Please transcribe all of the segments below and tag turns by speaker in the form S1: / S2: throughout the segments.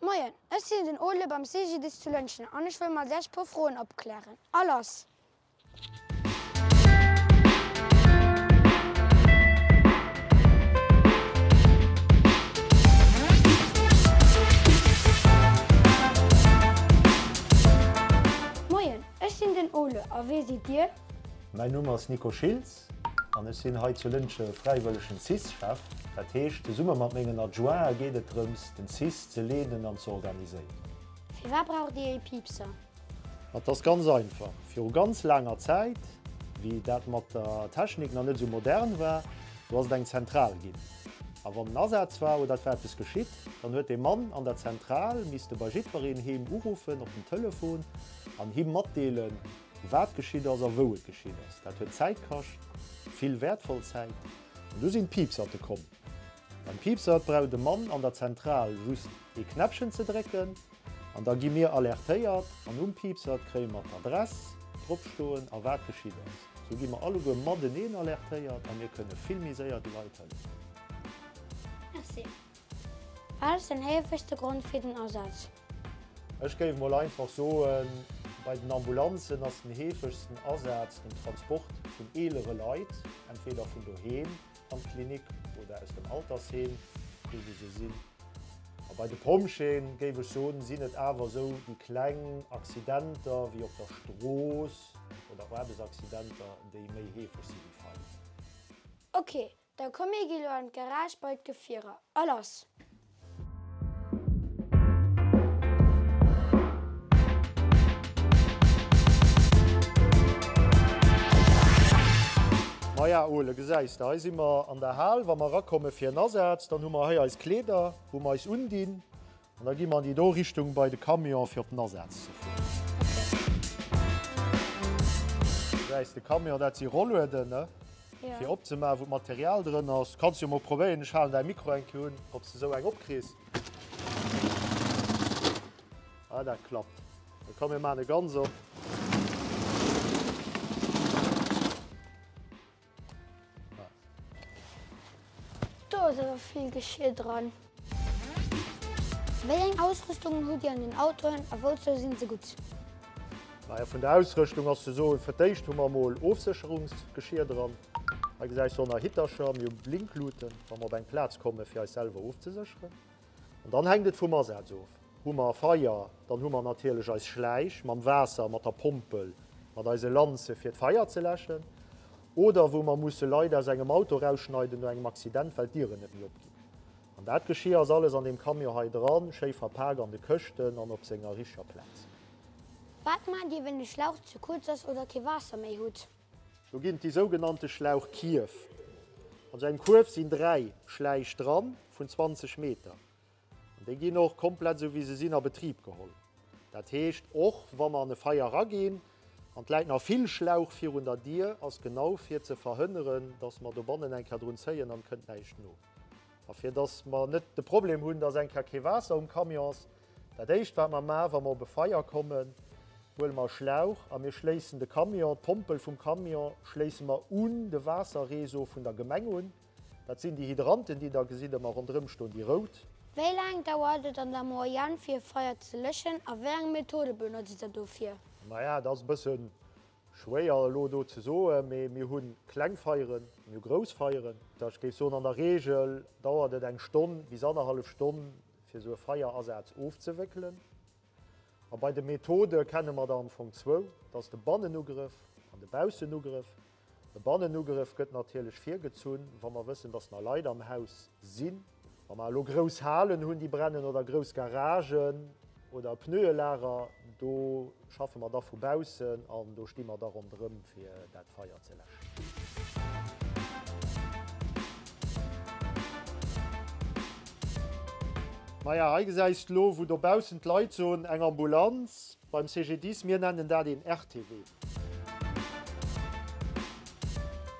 S1: Moien, ech sinn den Ole beim CGDIS zu Lëntgen an ech wëll mat lech puer Froen opklären. A lass! Moien, ech sinn den Ole a wee sidd dir? Mäin Numm ass
S2: Nico Schiltz. An ech sinn hei zu Lëntge fräiwëllegen cis-Chef. Dat heescht, zesumme mat mengen Adjointe geet et drëms, den cis ze leeden an ze organiséieren. Firwat
S1: braucht Dir ee Piepser? Dat
S2: ass ganz einfach. Viru ganz laanger Zäit, wéi dat mat der Technik nach net esou modern war, do ass et eng Zentral ginn. A wann en Asaz war oder et war eppes geschitt, dann huet dee Mann an der Zentral misste bei jiddwereen heem uruffen op den Telefon an him matdeelen, Wat geschitt ass a wou et geschitt ass, dat huet Zäit kascht, vill wäertvoll Zäit. An du sinn d'Piipserte komm. Beim Piipsert brauch de Mann an der Zentral just ee Knäppchen ze drécken an da gi mir alertéiert an um Piipsert kréie mer d'Adress drop stoen a wat geschitt ass. Sou gi mer alleguer mateneen alertéiert a mir kënne vill méi séier de Leit hëllefen. Merci.
S1: Wat ass den heefegste Grond fir den Asaz? Ech géif
S2: mol einfach soen, bei den Ambulanzen ass den heefegsten Asaz den Transport vun eelere Leit, entweder vun doheem an d'Klinik oder aus dem Altersheem, do wou se sinn. A bei de Pompjeeë, géif ech soen, sinn et awer esou déi kleng Accidenter wéi op der Strooss oder Aarbechtsaccidenter, déi méi heefeg si wéi Faillite. Ok,
S1: Da komm mir gi lo an d'Garage bei d'Gefierer. A lass!
S2: Maja Ole, gesäis de, hei si mer an der Hal. Wa mer erakommen fir en Asaz, dann hu mer hei eis Kleeder, wou mer eis undinn. An da gi mer an déi do Richtung bei de Camion fir op den Asaz ze fueren. Du gesäis de Camion, dat si Rollueden, ne? Fir opzemaachen,
S1: wou
S2: d'Material drënner ass. Du kanns jo mol probéieren, ech halen däi Mikro eng Kéier un, ob s de esou eng opkriss. Ah, dat klappt. Da komm mir maachen e ganz op.
S1: Do ass awer vill Geschir dran. Wéi eng Ausrüstungen hutt Dir an den Autoen a wouzou sinn se gutt? Naja,
S2: vun der Ausrëschtung ass ze soen, fir d'éischt hu mer emol Ofsécherungsgeschir dran. Hei gesäis de och nach Hittercher. Mir hu Blinkluten, wa mer op eng Plaz kommen, fir eis selwer ofzesécheren. An dann hänkt et vum Asaz of. Hu mer e Feier, dann hu mer natierlech eis Schläich mam Waasser, mat der Pompel, mat eise Lanze fir d'Feier ze läschen. Oder wou mer musse Leit aus engem Auto erausschneiden no engem Accident, well d'Dieren net méi opginn. An dat Geschier ass alles an deem Camion hei dran, schéi verpak an de Këschten an op senger richtger Plaz. Wat
S1: maacht Dir, wann de Schlauch ze kuerz ass oder kee Waasser méi hutt? Do ginn et déi
S2: sougenannte Schlauchkierf. An esou engem Kuerf sinn dräi Schläich dran vun 20 Meter. An déi ginn och komplett esou wéi se sinn a Betrib geholl. Dat heescht, och wa mer an e Feier eraginn an et läit nach vill Schlauch virun der Dier, ass genau fir ze verhënneren, datt mer dobannen eng Kéier drun zéien an et kënnt näischt no. A fir datt mer net de Problem hunn, datt eng Kéier kee Waasser um Camion ass, Dat éischt wat mer maan wa mer op e Feier kommen, huele mer e Schlauch a mir schléissen de Camion, d'Pompel vum Camion schléisse mer un de Waasserreseau vun der Gemeng un. Dat sinn déi Hydranten déi der gesitt ëmmer ronderëm stoen, déi rout. Wéi laang
S1: dauert et an der Moyenne fir e Feier ze léschen a wéi eng Methode benotzt der dofir? Maja et ass e bësse
S2: schwéier elo do ze soen, mee mir hu kleng Feieren, mir hu grouss Feieren. Ech géif soen an der Reegel dauert et eng Stonn bis annerhallef Stonn. fir esou e Feierasaz ofzewéckelen. A bei de Methode kenne mer der am Fong zwou, dat ass de Bannenugrëff an de Baussenugrëff. E Bannenugrëff gëtt natierlech virgezunn, wa mer wëssen, datt nach Leit am Haus sinn. Wa mer elo grouss Halen hunn, déi brennen, oder grouss Garagen oder e Pneue-Lager, do. Schaffe mer da vu baussen an do sti mer da ronderëm fir dat Feier ze läschen. Maja hei gesäis de lo wou dobaussen d'Leit soen, eng Ambulanz beim CGDIS, mir nennen dat een RTW.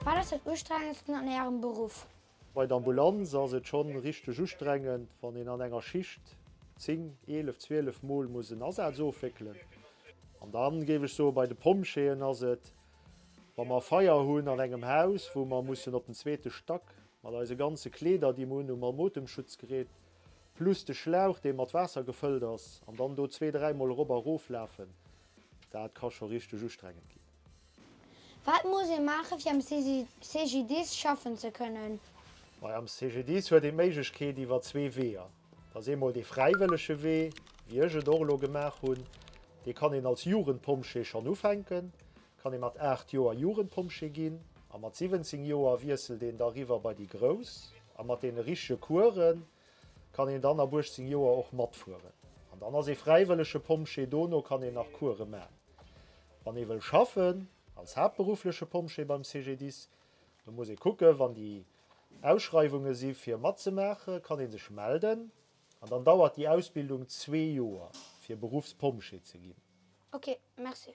S1: Wat ass dat ustrengendsten an Ärem Beruff? Bei der Ambulanz
S2: ass et schonn richteg ustrengend, wann een an enger Schicht 10, 11, 12 Mol muss en Asaz ofwéckelen. An dann, géif ech soen, bei de Pompjeeën ass et, wa mer e Feier hunn an engem Haus, wou mer mussen op den zweete Stack, mat eise ganze Kleeder, déi mer unhunn, mam Otemschutzgerät, plus de Schlauch, dee mat Waasser gefëllt ass, an dann do zwee, dräi Mol erop a rof lafen, dat ka scho richteg ustrengend ginn. Wat
S1: muss ee maachen, fir am CGDIS schaffen ze kënnen? Majo, am
S2: CGDIS huet een d'Méiglechkeet iwwer zwee Weeër. Dat ass eemol dee fräiwëllege Wee, wéi ech et och elo gemaach hunn. Dee kann een als Jugendpompjee schonn ufänken, kann ee mat 8 Joer Jugendpompjee ginn. A mat 17 Joer wiesselt een da riwwer bei déi Grouss. A mat deene richtege Course kann een dann ab 18 Joer och matfueren. An dann ass ee fräiwëllege Pompjee. Dono kann een nach Course man. Wann ee wëll schaffen als haaptberuffleche Pompjee beim CGDIS, da muss ee kucke wann déi Ausschreiwunge si fir matzemaachen, kann ee sech melden an dann dauert déi Ausbildung zwee Joer fir Beruffspompjee ze ginn. Ok, merci.